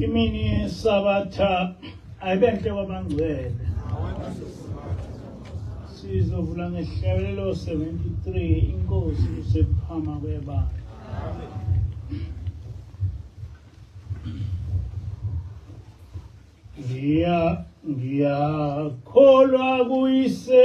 imini yesabatha ayibenhle kwabangcwele sizovula ngehlabelelo 73 inkosi usephama kwebala ngiya ngiyakholwa kuyise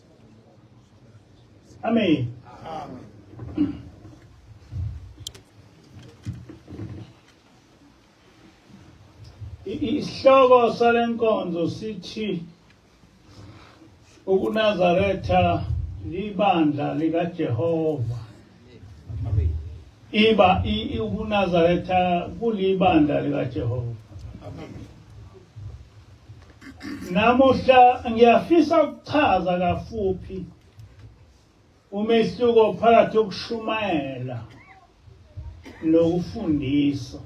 Amen. Amen. Isihloko salenkonzo sithi ukuNazaretha libandla likaJehova. iba ukunazaretha kulibandla likajehova namuhla ngiyafisa ukuchaza kafuphi umehluko phakathi kokushumayela nokufundisa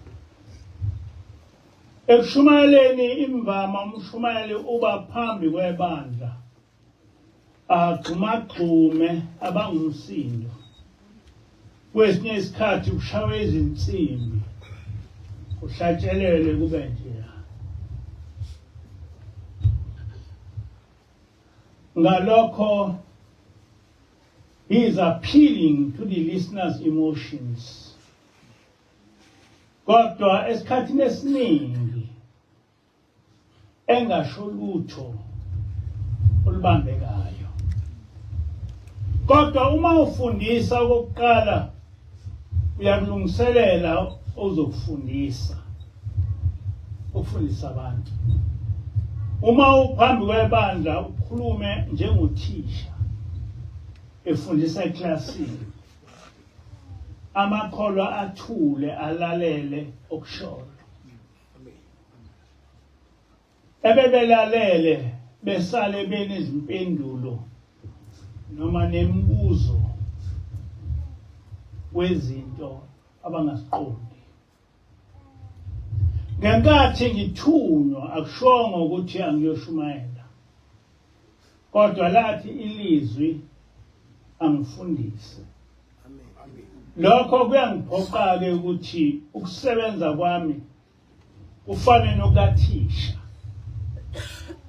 ekushumayeleni imvama umshumayeli uba phambi kwebandla agxumagxume abangumsindo kwesinye isikhathi kushawe izinsimbi kuhlatshelele kube njeya ngalokho he is appealing to the listeners emotions kodwa esikhathini esiningi engasho lutho olubambekayo kodwa uma ufundisa okokuqala uyakulungiselela ozokufundisa ukufundisa abantu uma uphambi kwebandla ukhulume njengothisha efundisa eklasini amakholwa athule alalele okushoyo ebebelalele besale benezimpendulo noma nemibuzo wezinto abangaziqondi ngenkathi ngithunywa akushongo ukuthi angiyoshumayela kodwa lathi ilizwi angifundise lokho kuyangiphoqa-ke ukuthi ukusebenza kwami kufane nokathisha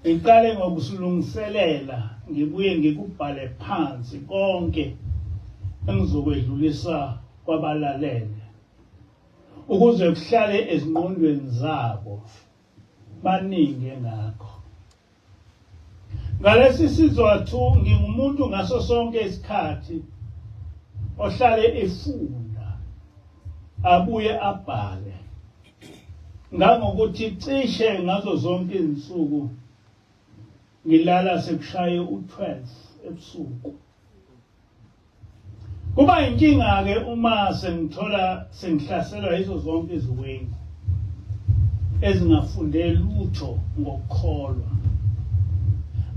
ngiqale ngokusilungiselela ngibuye ngikubhale phansi konke engizokwedlulisa kwabalalele ukuze kuhlale ezingqondweni zabo baningi engakho ngalesi sizathu ngingumuntu ngaso sonke isikhathi ohlale efunda abuye abhale ngangokuthi cishe ngazo zonke izinsuku ngilala sekushaye u12 ebusuku Kuba inkinga-ke uma sengithola sengihlaselwa yizo zonke iziwengu ezingafunde lutho ngokukholwa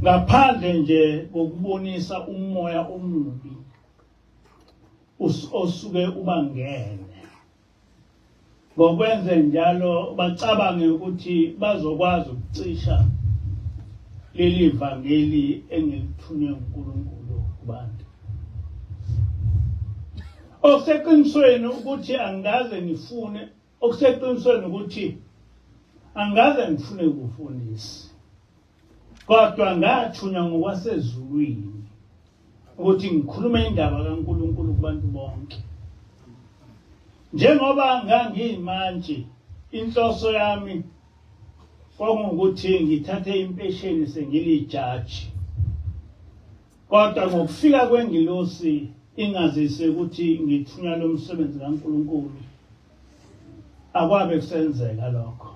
ngaphandle nje kokubonisa umoya omubi osuke ubangene Ngokwenze njalo bacabange ukuthi bazokwazi ukucisha leli vangeli engilithunywe uNkulunkulu kubantu. Okuseqinisweni ukuthi angikaze ngifune okuseqinisweni ukuthi angikaze ngifune ukufundisa. Kodwa ngathunywa ngokwasezulwini ukuthi ngikhulume indaba kaNkulunkulu kubantu bonke. Njengoba ngangiyimantshi, inhloso yami kwakungukuthi ngithathe impesheni sengilijaji. Kodwa ngokufika kwengilosi ingazise ukuthi ngithunywa lo msebenzi kaNkulunkulu, akwabe kusenzeka lokho.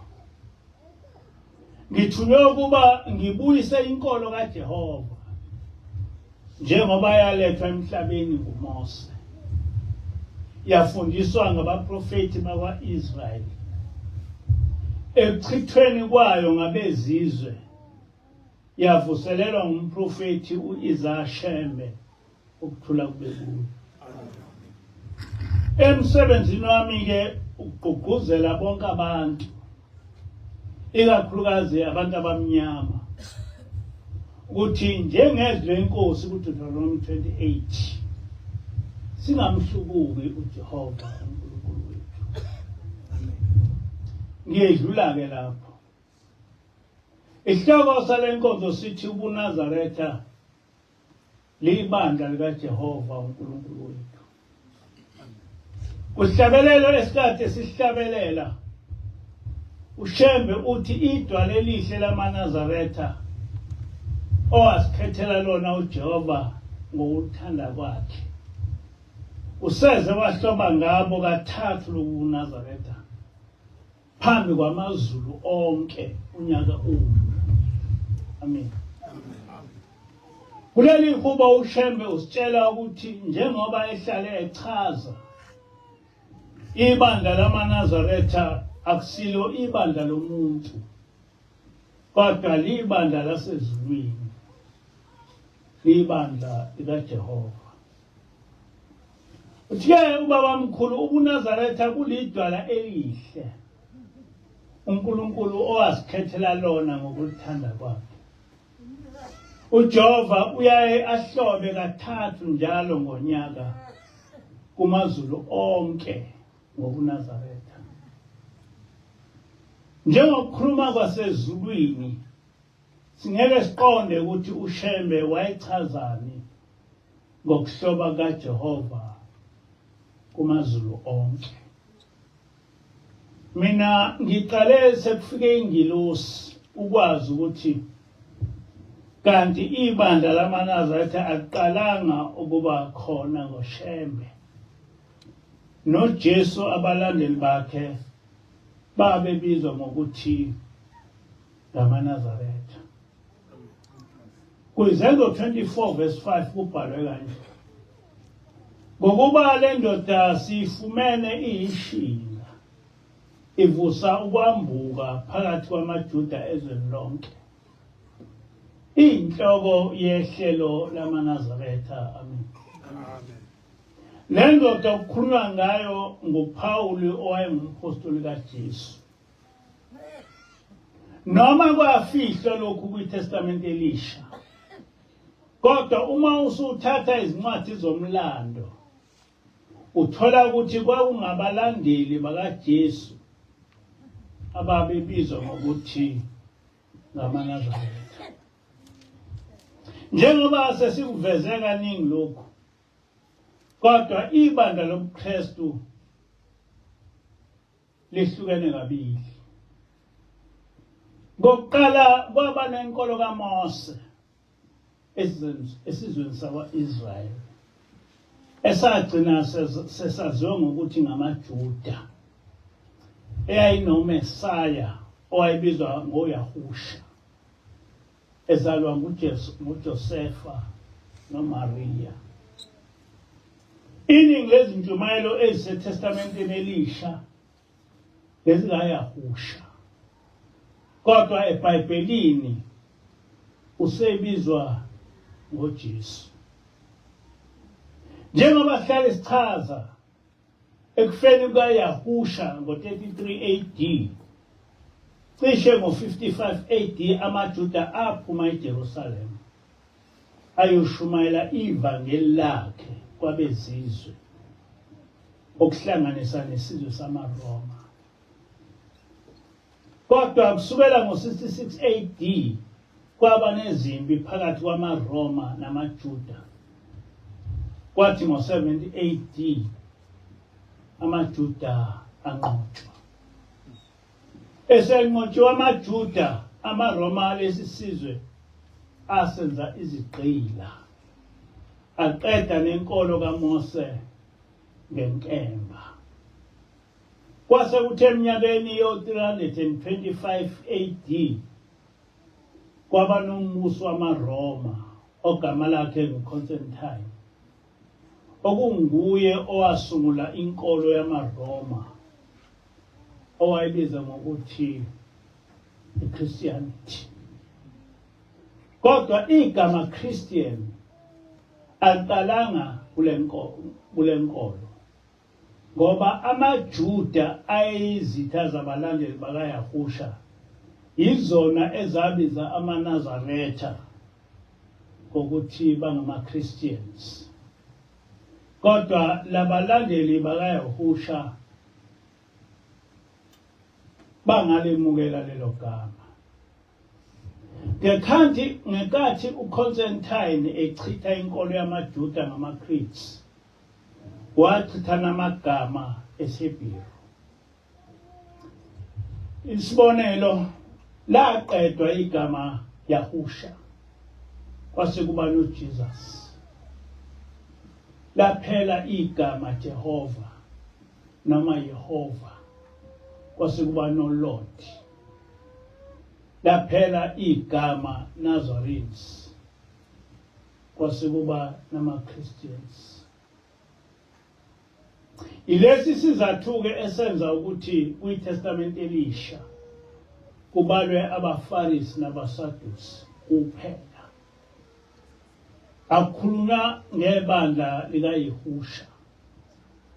Ngithunywe ukuba ngibuyise inkolo kaJehova njengoba yalethwa emhlabeni nguMose. Yafundiswa ngabaprofeti bakwa-Israyeli ekuchithweni kwayo ngabezizwe yavuselelwa ngumprofethi u-Isaya Shembe ukuthula kube kuyo emsebenzini wami-ke ukugqugquzela bonke abantu ikakhulukazi abantu abamnyama ukuthi njengezwi lenkosi kuDeuteronomy 28 singamhlubuki uJehova uNkulunkulu wethu ngiyedlula-ke lapho Isihloko sale nkonzo sithi ubuNazaretha liyibandla likaJehova uNkulunkulu wethu. Kuhlabelelo esikade sihlabelela uShembe uthi idwala elihle lamaNazaretha owasikhethela lona uJehova ngokuthanda kwakhe. Useze wahloba ngabo kathathu lobuNazaretha. phambi kwamazulu onke unyaka uwudlula amen kuleli hubo ushembe usitshela ukuthi njengoba ehlale echaza ibandla lamanazaretha akusilo ibandla lomuntu kodwa libandla lasezulwini libandla likajehova Uthe ubabamkhulu ubuNazaretha kulidwala elihle uNkulunkulu owasikhethela lona ngokuthanda kwakhe. UJehova uyaye ahlobe kathathu njalo ngonyaka kumazulu onke ngobuNazaretha. Njengokukhuluma kwasezulwini Singeke siqonde ukuthi uShembe wayechazani ngokuhloba kaJehova kumaZulu onke. Mina ngiqale sekufike ingilosi ukwazi ukuthi kanti ibandla lamaNazaretha aqalanga ukuba khona ngoShembe. NoJesu abalandeli bakhe babebizwa ngokuthi ngamaNazaretha. Kwizenzo 24 verse 5 kubhalwe kanje. Ngokuba le ndoda siyifumene iyishinga ivusa ukwambuka phakathi kwamaJuda ezweni lonke. Inhloko yehlelo lamaNazaretha. Amen. Amen. Le ndoda okukhulunywa ngayo nguPawulu owayengumphostoli kaJesu. noma kwafihlwa lokhu kwitestamente elisha kodwa uma usuthatha izincwadi zomlando uthola ukuthi kwakungabalandeli bakaJesu ababebizwa ngokuthi ngamaNazaretha njengoba sesikuveze kaningi lokhu kodwa ibandla lobuKristu lihlukene kabili. Ngokuqala kwaba nenkolo kaMose esizweni sakwa-Israyeli esagcina sesaziwa ngokuthi ngamaJuda eyayinoMesaya owayebizwa ngoYahusha. Ezalwa nguJosefa noMariya. Iningi lezintshumayelo eziseTestamenteni Elisha bezingayahusha. Kodwa eBhayibhelini usebizwa ngoJesu. Njengoba sihlale sichaza Ekufeni kukaYahusha ngo-33 AD, cishe ngo-55 AD amaJuda aphuma eJerusalema ayoshumayela ivangeli lakhe kwabezizwe okuhlanganisa nesizwe samaRoma. Kodwa kusukela ngo-66 AD kwaba nezimpi phakathi kwamaRoma namaJuda. Kwathi ngo-70 AD amaJuda anqotshwa. Esenqotshiwe amaJuda, amaRoma alesi sizwe asenza izigqila. Aqeda nenkolo kaMose ngenkemba. Kwase kuthe eminyakeni yo-325 AD kwaba nombusi wamaRoma ogama lakhe nguConstantine okunguye owasungula inkolo yamaRoma owayebiza ngokuthi iChristianity kodwa igama Christian aliqalanga kule nkolo Ngoba amaJuda ayeyizitha zabalandeli bakaYahusha, yizona ezabiza amaNazaretha ngokuthi bangamaChristians. Kodwa labalandeli bakaYahusha bangalemukela lelo gama. Ngekhathi ngenkathi uConstantine echitha inkolo yamaJuda ngamaCretes, Wachithana amagama esiBhelu. Isibonelo laqedwa igama Yahusha kwase kuba noJesus. Laphela igama Jehova noma Yehova kwase kuba noLord. Laphela igama Nazarenes kwase kuba nama-christians ilesi sizathu-ke esenza ukuthi kwitestamente elisha kubalwe abafarisi nabasadusi kuphela akukhulunywa ngebandla likayehusha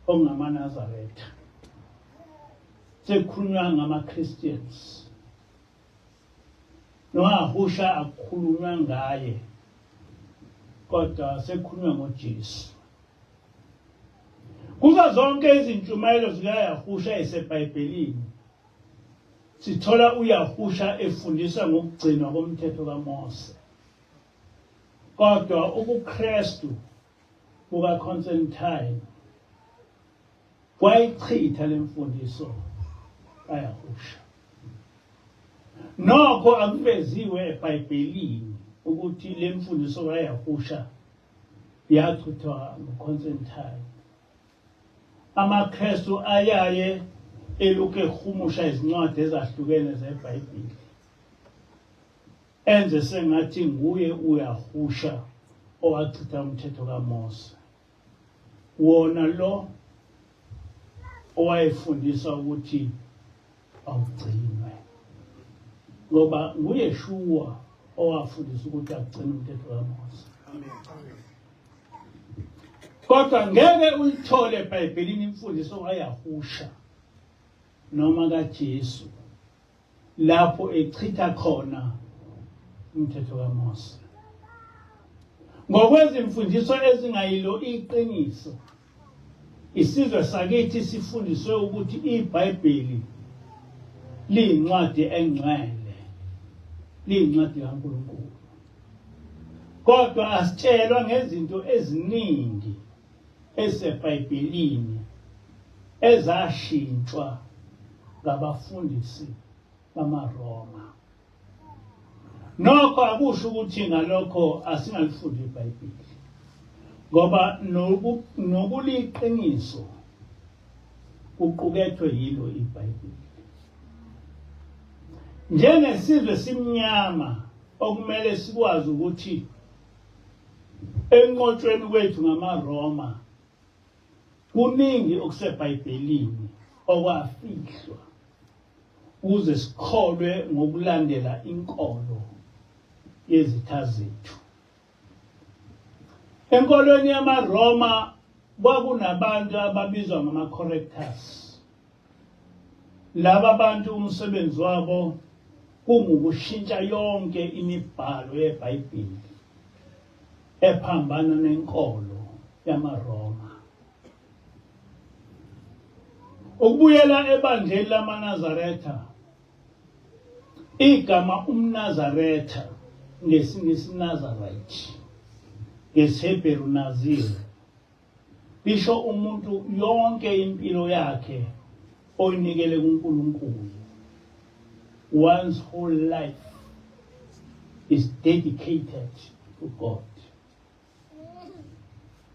okungamanazaretha sekukhulunywa ngama-christians Nowahusha akukhulunywa ngaye kodwa sekukhulunywa ngoJesu. Kuzo zonke izintshumayelo zikaYahusha eseBhayibhelini sithola uYahusha efundisa ngokugcinwa komthetho kaMose. Kodwa ubuKristu kuka Constantine wayichitha lemfundiso ayahusha nokho akuveziwe eBhayibhelini ukuthi lemfundiso ayahusha yachithwa nguConstantine amaKristu ayaye eluke ehumusha izincwadi ezahlukene zeBhayibheli enze sengathi nguye uyahusha owachitha umthetho kaMose wona lo owayefundisa ukuthi awugcinwe ngoba nguyeshuwa owafundisa ukuthi agcine umthetho kaMose kodwa ngeke uyithole ebhayibhelini imfundiso kayahusha noma kajesu lapho echitha khona umthetho kaMose ngokwezimfundiso ezingayilo iqiniso isizwe sakithi sifundiswe ukuthi iBhayibheli liyincwadi engcwele liyincwadi kaNkulunkulu kodwa asitshelwa ngezinto eziningi eseBhayibhelini ezashintshwa ngabafundisi bamaRoma. Nokho akusho ukuthi ngalokho asingalifundi iBhayibheli. Ngoba nokuliqiniso kuqukethwe yilo iBhayibheli. Njengesizwe simnyama okumele sikwazi ukuthi enqotshweni kwethu ngamaRoma kuningi okuseBhayibhelini okwafihlwa ukuze sikholwe ngokulandela inkolo yezitha zethu. Enkolweni yamaRoma kwakunabantu ababizwa ngama-correctors. Laba bantu umsebenzi wabo kungukushintsha yonke imibhalo yeBhayibheli ephambana nenkolo yamaRoma. Ukubuyela ebandleni lamaNazaretha igama umNazaretha ngesingisi Nazarite ngesiHebheru Nazir Isho umuntu yonke impilo yakhe oyinikele kuNkulunkulu. One's whole life is dedicated to God.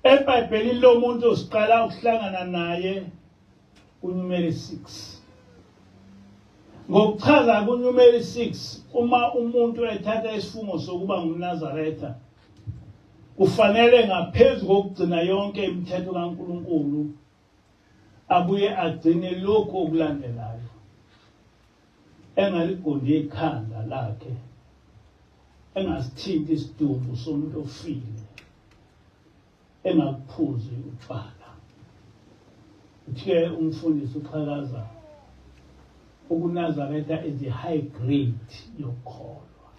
EBhayibhelini lomuntu siqala ukuhlangana naye kuNumeri 6. Ngokuchaza kuNumeri 6 uma umuntu ethatha isifungo sokuba ngumNazaretha Kufanele ngaphezu kokugcina yonke imithetho kaNkulunkulu abuye agcine lokhu okulandelayo engaligundhi ikhanda lakhe engasithinti isidumbu somuntu ofile engakuphuzi utshwala uthe umfundisi uqhakaza ukunazaretha is the high grade yokukholwa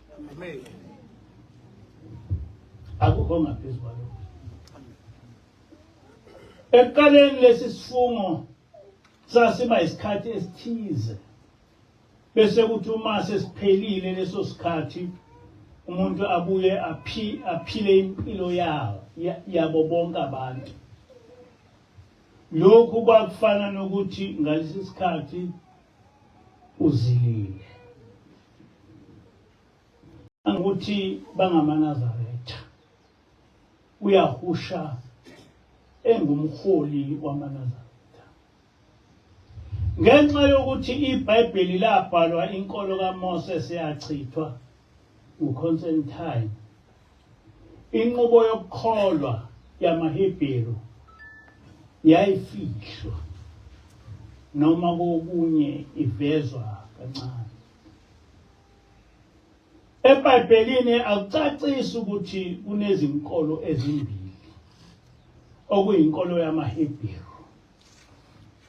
akukho ngaphezu kwalokho ekuqaleni lesi sifungo sasiba isikhathi esithize bese kuthi uma sesiphelile leso sikhathi umuntu abuye aphi aphile impilo yawo yabo bonke abantu lokhu kwakufana nokuthi ngalesi sikhathi uzilile ukuthi bangamanazaretha uyahusha engumholi wamanazaretha Ngenxa yokuthi iBhayibheli labhalwa inkolo kaMose seyachithwa nguConstantine. Inqubo yokukholwa yamaHebheru yayifihlwa noma kokunye ivezwa kancane. EBhayibhelini akucacisi ukuthi kunezinkolo ezimbili okuyinkolo yamaHebheru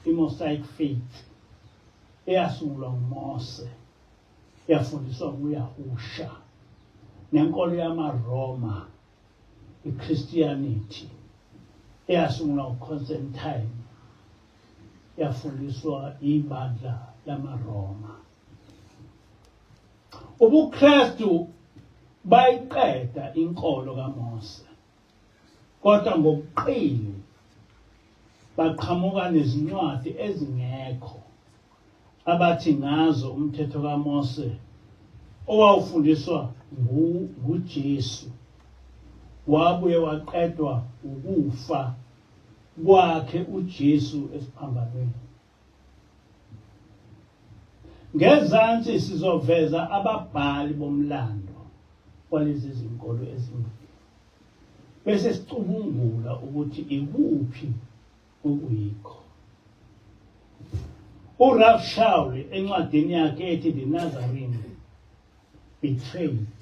imosaic faith eyasungulwa ngumose yafundiswa nguyahusha nenkolo yamaroma ichristianity eyasungulwa uconstantine yafundiswa ibandla lamaroma ubukrestu bayiqeda inkolo kamose kodwa ngobuqili baqhamuka nezincwadi ezingekho abathi ngazo umthetho kaMose owawufundiswa nguJesu wabuye waqedwa ukufa kwakhe uJesu esiphambanweni Ngezansi sizoveza ababhali bomlando walezi zinkolo ezimbili bese sicubungula ukuthi ikuphi okuyikho. URalph Shaul encwadini yakhe ethi The Nazarene Betrayed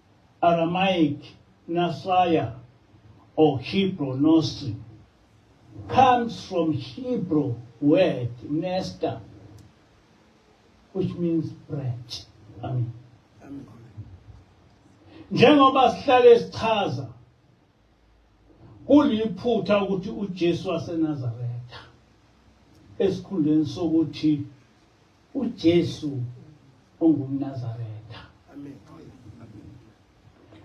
Aramaic, Nasaya, or Hebrew Nostri, comes from Hebrew word nesta, which means branch. Amen. Njengoba sihlale sichaza kuliphutha ukuthi uJesu waseNazaretha esikhundleni sokuthi uJesu ongumNazaretha. Amen.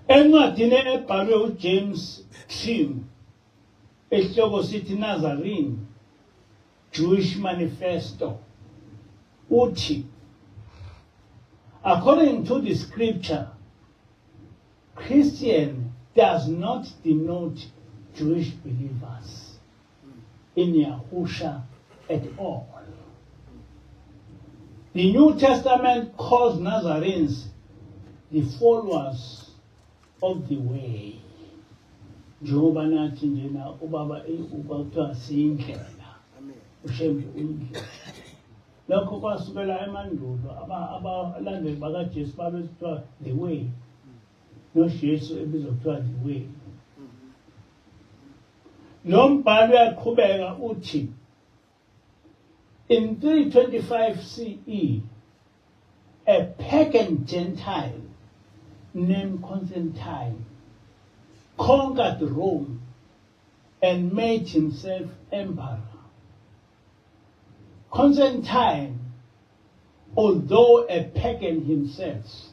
Encwadini ebhalwe uJames Trim esihloko sithi Nazarene Jewish Manifesto uthi According to the scripture Christian does not denote Jewish believers. in Yahusha at all. The New Testament calls Nazarenes the followers of the way. njengoba nathi njena ubaba kwakuthiwa siyindlela ushembe uyindlela lokho kwasukela emandulo abalandeli bakajesu babekuthiwa the way nojesu ebizokuthiwa the way Lo mbhalo uyaqhubeka uthi in 325 CE a pagan gentile named Constantine conquered Rome and made himself emperor. Constantine, although a pagan himself,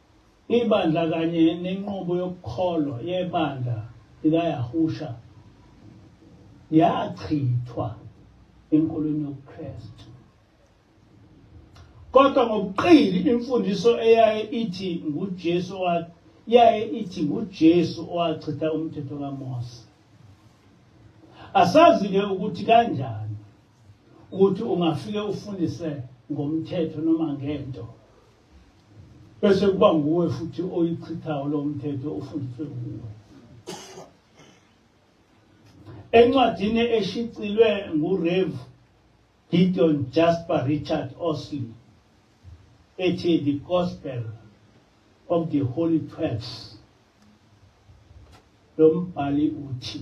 Ibandla kanye nenqubo yokukholwa yebandla likaYahusha yachithwa enkolweni yobuKristu. Kodwa ngobuqili imfundiso eyaye ithi nguJesu yaye ithi nguJesu owachitha umthetho kaMose. Asazi-ke ukuthi kanjani ukuthi ungafike ufundise ngomthetho noma ngento bese kuba nguwe futhi oyichithayo lo mthetho ofundiswe nguwe encwadini eshicilwe ngurev gideon jasper richard osley ethi the gospel of the holy twelves lo mbhali uthi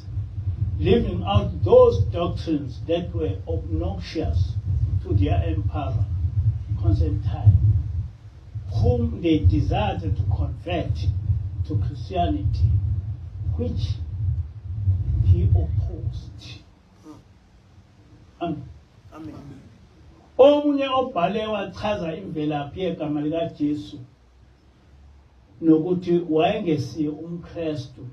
leaving out those doctrines that were obnoxious to their emperor, Constantine, whom they desired to convert to Christianity, which he opposed. Amen. Amen. Omunye obhale wachaza imvelaphi yegama likaJesu nokuthi wayengesiye umKristu.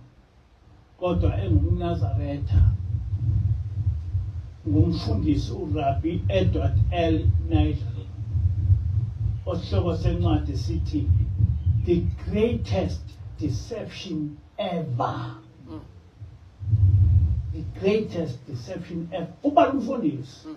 kodwa engumNazaretha ngumfundisi uRabbi Edward L. Nigel osihloko sencwadi sithi the greatest deception ever mm. the greatest deception ever ubala umfundisi mm.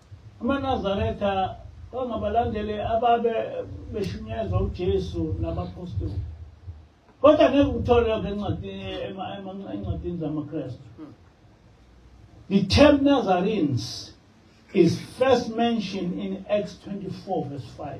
AmaNazaretha kwangabalandeli ababe beshunyezwa uJesu nabaphostoli. Kodwa ngeke ukuthole lokho encwadini encwadini zamaKristu. The term Nazarenes is first mentioned in Acts 24 verse 5.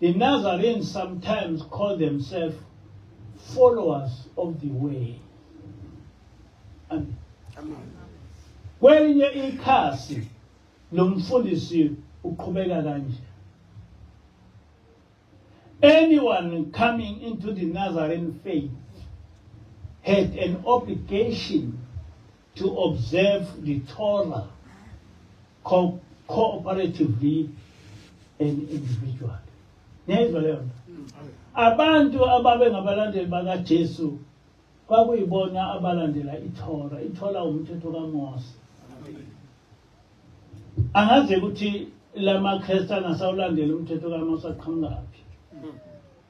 The Nazarenes sometimes call themselves followers of the way. Amen. Amen. Kwelinye ikhasi lomfundisi uqhubeka kanje. Anyone coming into the Nazarene faith had an obligation to observe the Torah co cooperatively and individually niyayizwa leyo nto abantu ababengabalandeli bakajesu kwakuyibona abalandela ithora ithola umthetho kamose angazi ukuthi la makhristana asawulandela umthetho kamose aqhamukaphi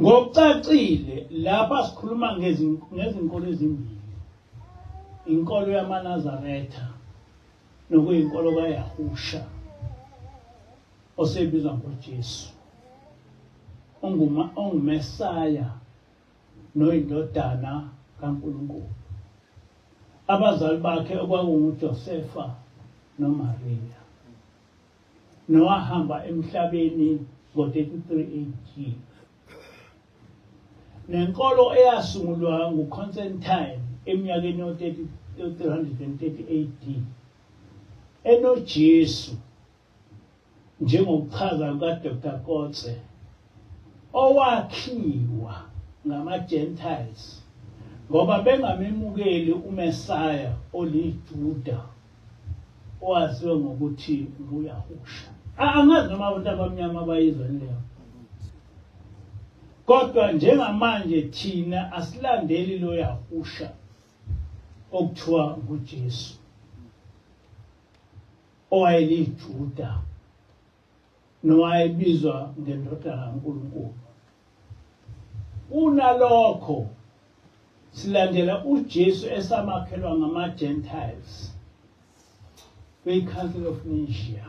Ngokucacile lapha sikhuluma ngezinkolo ezimbili. Inkolo yamaNazaretha nokuyinkolo kaYahusha osebizwa ngoJesu. Onguma onguMesaya noyindodana kaNkulunkulu. Abazali bakhe okwakunguJosefa noMariya. nowahamba emhlabeni ngo-33 AD. Nenkolo eyasungulwa nguConstantine eminyakeni yo-330 AD enoJesu njengokuchaza kukaDr. Kotze owakhiwa ngama-Gentiles ngoba bengamemukeli uMesaya oliJuda owaziwe ngokuthi nguyahusha angazi noma abantu abamnyama bayizweni leyo kodwa njengamanje thina asilandeli lo yahusha okuthiwa ngujesu owayelijuda nowayebizwa ngendodana kaNkulunkulu. Kunalokho silandela uJesu esamakhelwa ngamaGentiles kwiCouncil of Nicaea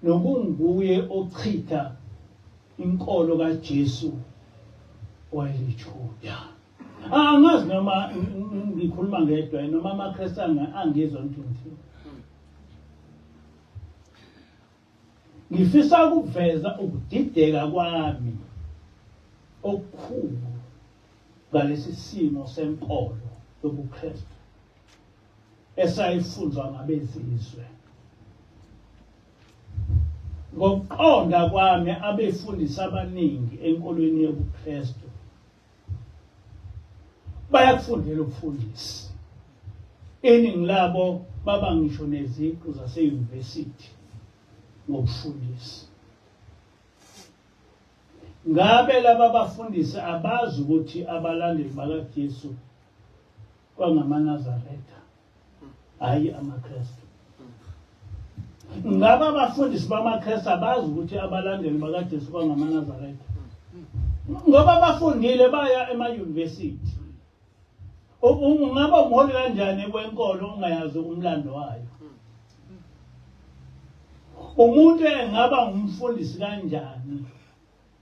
nokunguye ochitha inkolo kaJesu wayeliJuda. Angazi noma ngikhuluma ngedwa noma amaKristu angizwa ngithini. Ngifisa ukuveza ukudideka kwami okukhulu ngalesi simo senkolo yobuKristu esayifunzwa ngabezizwe. Ngokuqonda kwami abefundisi abaningi enkolweni yobuKristu bayakufundela ukufundisa iningi labo baba ngisho neziqu zaseyunivesithi ngokufundisa ngabe laba bafundisi abazi ukuthi abalandeli bakaJesu kwangamaNazaretha hhayi amaKristu. Ngaba abafundisi bamaKristu abazi ukuthi abalandeli bakaJesu kwangamaNazaretha. Ngoba bafundile baya emayunivesithi. Ungaba umholi kanjani kwenkolo ungayazi umlando wayo? Umuntu engaba umfundisi kanjani?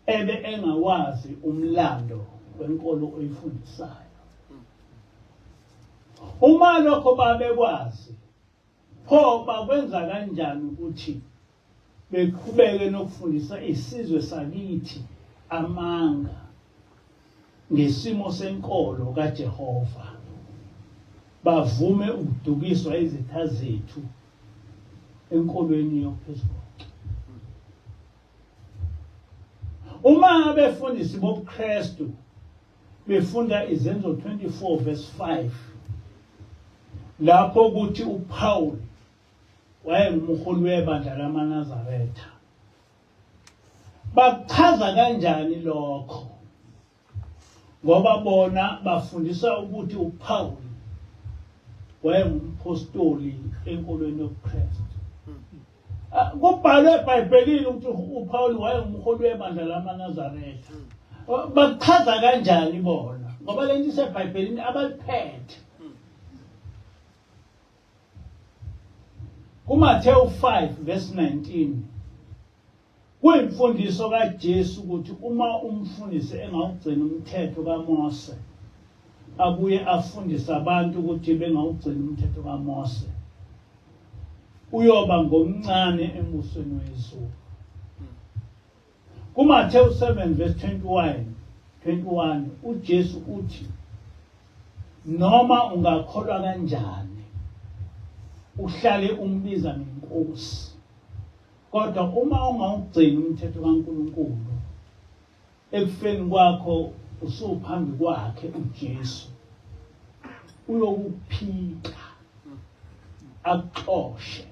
ebe engawazi umlando wenkolo oyifundisayo uma lokho babekwazi pho bakwenza kanjani ukuthi beqhubeke nokufundisa isizwe sakithi amanga ngesimo senkolo kaJehova bavume ukudukiswa izitha zethu enkolweni yophezulu Uma abefundisi bobuKristu befunda izenzo 24 verse 5 lapho ukuthi uPaul wayengumholi webandla lamaNazaretha bakuchaza kanjani lokho Ngoba bona bafundisa ukuthi uPawulu wayengumphostoli enkolweni yobuKristu. Ah, kubhalwe ebhayibhelini ukuthi upawuli wayengumholi webandla lamanazaretha ah, bakuchaza kanjani bona ngoba le nto isebhayibhelini abaliphethe kumathewu 5 verse 19 Kuyimfundiso kaJesu ukuthi uma umfundisi engawugcina umthetho kaMose abuye afundise abantu ukuthi bengawugcina umthetho kaMose uyoba ngomncane embusweni wezulu. KuMathewu 7 verse 21 21 uJesu uthi noma ungakholwa kanjani uhlale umbiza ngenkosi Kodwa uma ungawugcini umthetho kaNkulunkulu ekufeni kwakho usuphambi kwakhe uJesu uyokuphika akuxoshe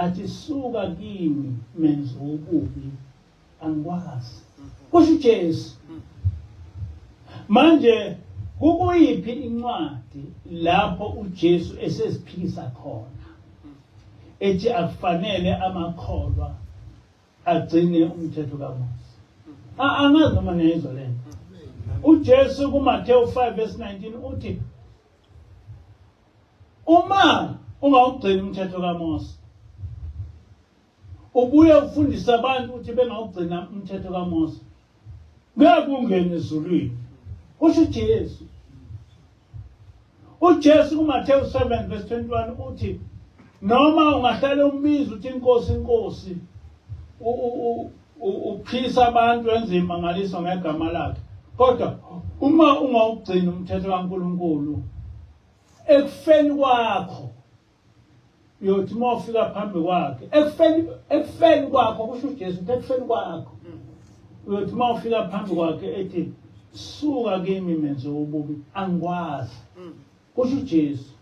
athi suka kimi menzi wobubi angikwazi kusho uJesu manje kukuyiphi incwadi lapho uJesu eseziphikisa khona ethi akufanele amakholwa agcine umthetho kaMose angazi noma niyizwa le nto uJesu kuMateyu 5 verse 19 uthi uma ungawugcini umthetho kaMose Ubuye ufundise abantu ukuthi bengawugcina umthetho kaMose. Ngeke ungene ezulwini. Kusho uJesu. UJesu kuMathewu 7 verse 21 uthi noma ungahlale umbiza uthi inkosi inkosi uphisa abantu wenza imangaliso ngegama lakhe kodwa uma ungawugcini umthetho kaNkuluNkulu ekufeni kwakho uyothi uma ufika phambi kwakhe ekufeni ekufeni kwakho kusho uJesu ukuthi ekufeni kwakho uyothi uma ufika phambi kwakhe ethi suka kimi menze ububi angikwazi kusho uJesu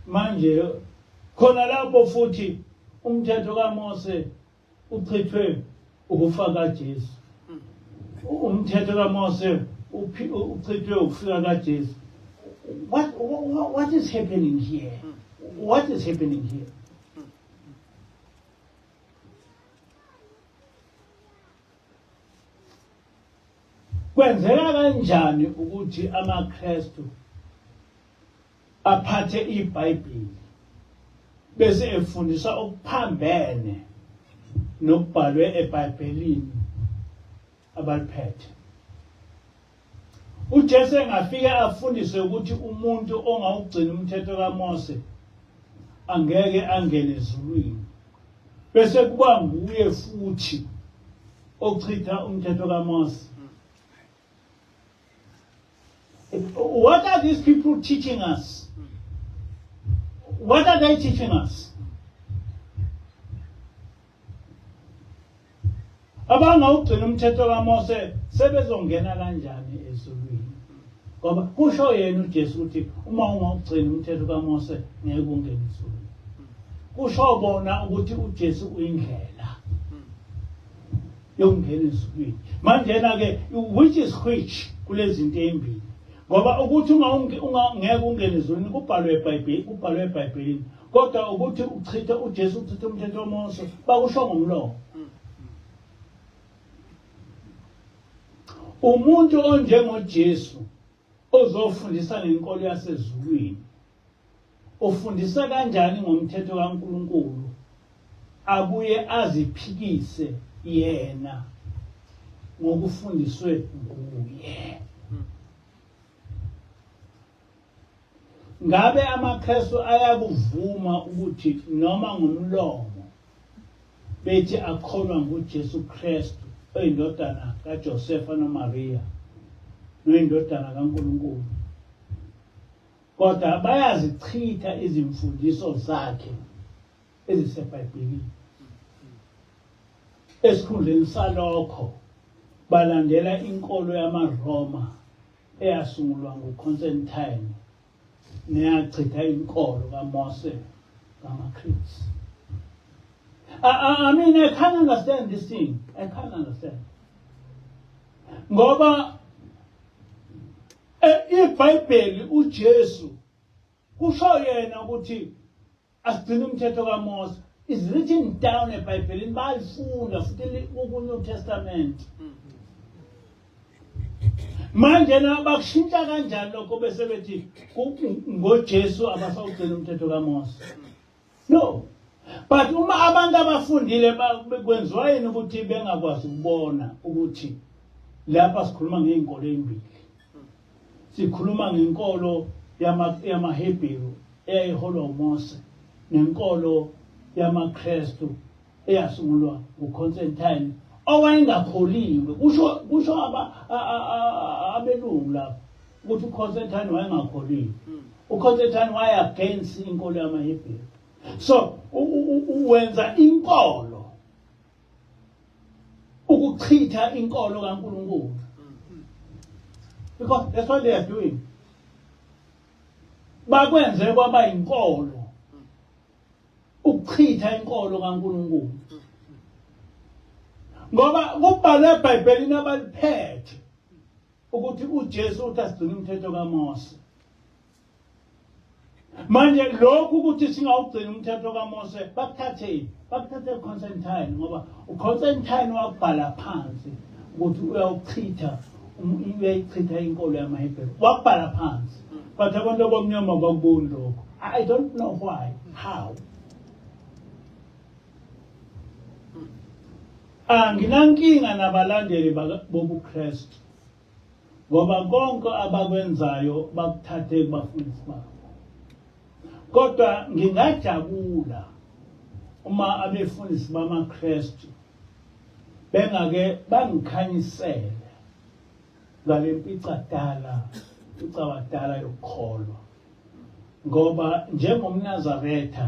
manje khona lapho futhi umthetho kaMose Uchithwe ukufa kaJesu. Umthetho kaMose uchithwe ukufika kaJesu. What, what, what is happening here? What is happening here? Kwenzeka kanjani ukuthi amaKristu aphathe iBhayibheli bese efundisa okuphambene nokubhalwe eBhayibhelini abaliphethe. UJesu engafike afundise ukuthi umuntu ongawugcina umthetho kaMose angeke angene ezulwini bese kuba nguye futhi ochitha umthetho kaMose What are these people teaching us? What are they teaching us? abangawugcina umthetho kaMose sebezongena kanjani ezulwini ngoba kusho yena uJesu ukuthi uma ungawugcina umthetho kaMose ngeke ungene ezulwini kusho bona ukuthi uJesu uyindlela yokungena ezulwini manjena-ke which is which kulezinto ezimbili ngoba ukuthi ungeke ungene ezulwini kubhalwe ebhayibheli kubhalwe ebhayibhelini kodwa ukuthi uchithe ujesu uchithe umthetho womose bakusho ngomlomo umuntu onjengojesu Ozofundisa ngenkolo yasezulwini ufundisa kanjani ngomthetho kaNkulunkulu abuye aziphikise yena ngokufundiswe nguye. Ngabe amaKristu ayakuvuma ukuthi noma ngomlomo bethi akholwa nguJesu Kristu oyindodana kaJosefa noMaria noyindodana kaNkulunkulu kodwa bayazichitha izimfundiso zakhe eziseBhayibhelini esikhundleni salokho balandela inkolo yamaRoma eyasungulwa nguConstantine niyachitha inkolo kaMose ngamaKristu I, I, I mean I can't understand this thing I can't understand ngoba eh, ibhayibheli uJesu kusho yena ukuthi asigcina umthetho kaMose is written down ebhayibhelini bayalifunda futhi kunew testament manje na bakushintsha kanjani lokho bese bethi ngojesu abasawugcina umthetho kamose no but uma abantu abafundile kwenziwa yini ukuthi bengakwazi ukubona ukuthi lapha sikhuluma ngey'nkolo ey'mbili Sikhuluma ngenkolo yamaHebheru eyayiholwa uMose nenkolo yamaKristu eyasungulwa nguConstantine owayengakholiwe kusho kusho abelungu lapho ukuthi uConstantine wayengakholiwe hmm. uConstantine waya against inkolo yamaHebheru so wenza inkolo ukuchitha inkolo kaNkulunkulu because that's what they are doing bakwenze kwaba inkolo ukuchitha inkolo kaNkulunkulu ngoba kubhalwe eBhayibhelini abaliphethe ukuthi uJesu uthi asigcine umthetho kaMose manje lokhu ukuthi singawugcina umthetho kaMose bakuthatheni bakuthathe Constantine ngoba uConstantine wabhala phansi ukuthi uyawuchitha uyayichitha inkolo yamaHebheru wabhala phansi but abantu abamnyama bakuboni lokho i don't know why how anginankinga nabalandeli bobuKristu ngoba konke abakwenzayo bakuthathe kubafundisi bakho kodwa ngingajabula uma abefundisi bamaKristu bengake bangikhanyisele ngale mpicadala icabadala yokukholwa ngoba njengomnazaretha